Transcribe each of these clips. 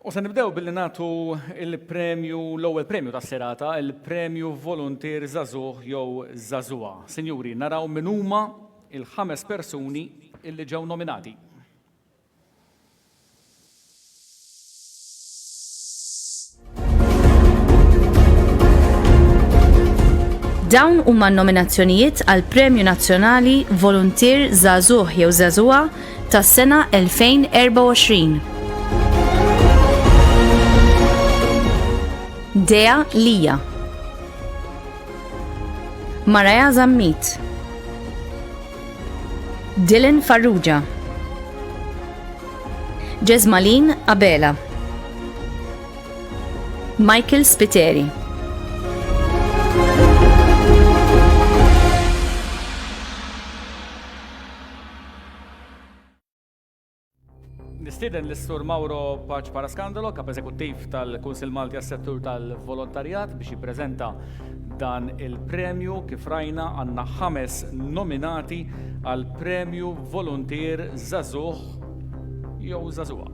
U se nibdew billi nagħtu il-premju, l-ewwel premju tas-serata, il-premju Volunteer Zazuh jew Zazuha. Sinjuri, naraw min huma il-ħames persuni illi ġew nominati. Dawn huma n-nominazzjonijiet għal Premju Nazzjonali Voluntier Żagħżugħ jew Żagħżugħa tas-sena 2024. Dea Lija Maraja Zammit Dylan Farrugia Jesmaleen Abela Michael Spiteri Nistieden l-Sur Mauro Paċ Paraskandalo, kap eżekuttiv tal-Kunsil Malti għas-settur tal-volontarjat biex jippreżenta dan il-premju kif rajna għandna ħames nominati għal premju voluntier Zazuh jew Zazuha.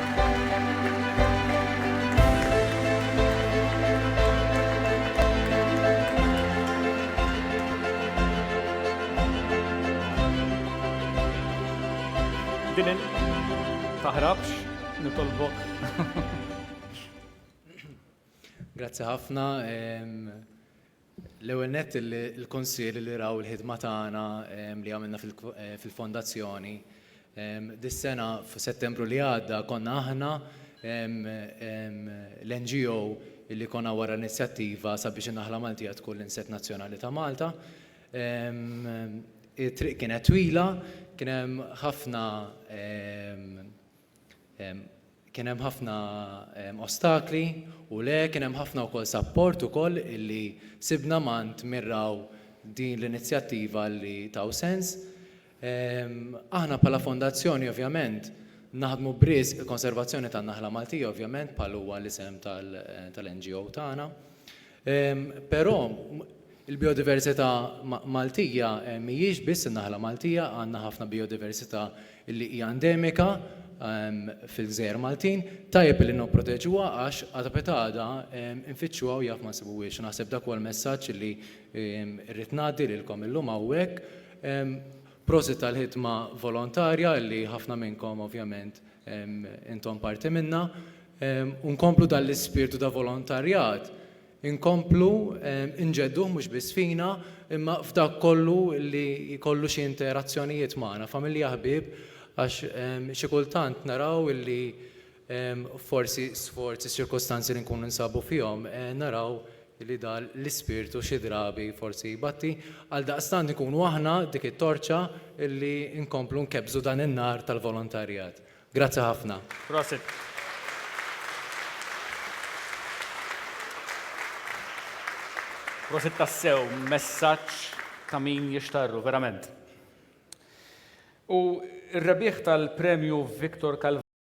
Taħrabx, nitolbok. Grazzi ħafna. L-ewwel nett il-Kunsill li raw il-ħidma tagħna li għamilna fil-Fondazzjoni. Dis-sena f'Settembru li għadda konna aħna l-NGO li konna wara l-inizjattiva sabiex in-naħla Maltija tkun l-insett nazzjonali ta' Malta. It-triq kienet twila, kien hemm ħafna Kien hemm ħafna ostakli u le, kien hemm ħafna wkoll sapport ukoll illi sibna m'għand min raw din l-inizjattiva li taw sens. Aħna bħala fondazzjoni ovvjament naħdmu b'riżq il-konservazzjoni tan-naħla Maltija ovvjament bħal huwa l-isem tal-NGO tagħna. Però, il-bijodiversità Maltija mhijiex biss in-naħla Maltija, għandna ħafna bijodiversità li hija endemika fil-gżejjer Maltin. Tajjeb li nipproteġuha għax għada piet għada nfittxuha u jaf ma nsibuhiex. Naħseb dak huwa l-messaġġ li rrid ngħaddi lilkom illum hawnhekk. Prosit tal-ħidma volontarja li ħafna minnkom ovvjament intom parti minnha. u nkomplu dan l-ispirtu ta' volontarjat, inkomplu nġedduh mhux biss fina imma f'dak kollu li jkollu xi interazzjonijiet magħna, familja, ħbieb, għax xi kultant naraw li forsi sforz iċ-ċirkustanzi li nkunu ninsabu fihom, naraw li dan l-ispirtu xi drabi forsi jbatti. Għaldaqstant inkunu aħna dik it-torċa li nkomplu nkebbżu dan in-nar tal-volontarjat. Grazzi ħafna. Prosit. Prosit tassew, messaġġ ta' min jixtarru, verament. U r-rebbieħ tal-Premju Victor Calvati,